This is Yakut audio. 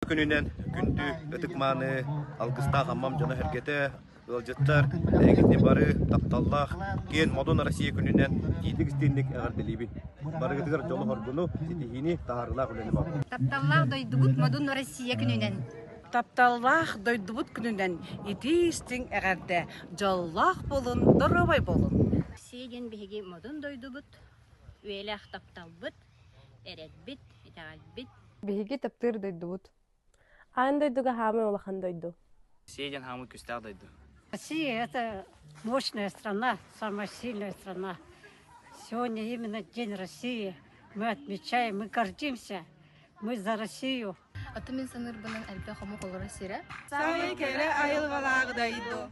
күнүнэн күндү ытык-мааны алгыстаах Аммам дьоно-сэргэтэ, ыалдьыттар, эйигитини бары тапталлаах киэн модун Россия күнүнэн иитик-истиҥник эҕэрдэлиибин. Барыгытыгар дьолу-хоргуну, ситиһиини, таһаарыылаах үлэни бар. Тапталлаах дойдубут модун Россия күнүнэн! Тапталлаах дойдубут күнүнэн итии-истиҥ эҕэрдэ, дьоллоох буолун, доруобай буолун! Россия диэн биһиги модун дойдубут, үйэлээх тапталбыт. эрэлбит, итэҕэлбит Биһиги таптыыр дойдубут. Аан дойдуга хаамай улахан дойду. Россия диэн хаамыы күүстээх дойду. Россия – это мощная страна, самая сильная страна. Сегодня именно День России. Мы отмечаем, мы гордимся. Мы за Россию. Атын мин саныырбынан элбэх омук олоро сирэ. Саамай кэрэ айылҕалаах дойду.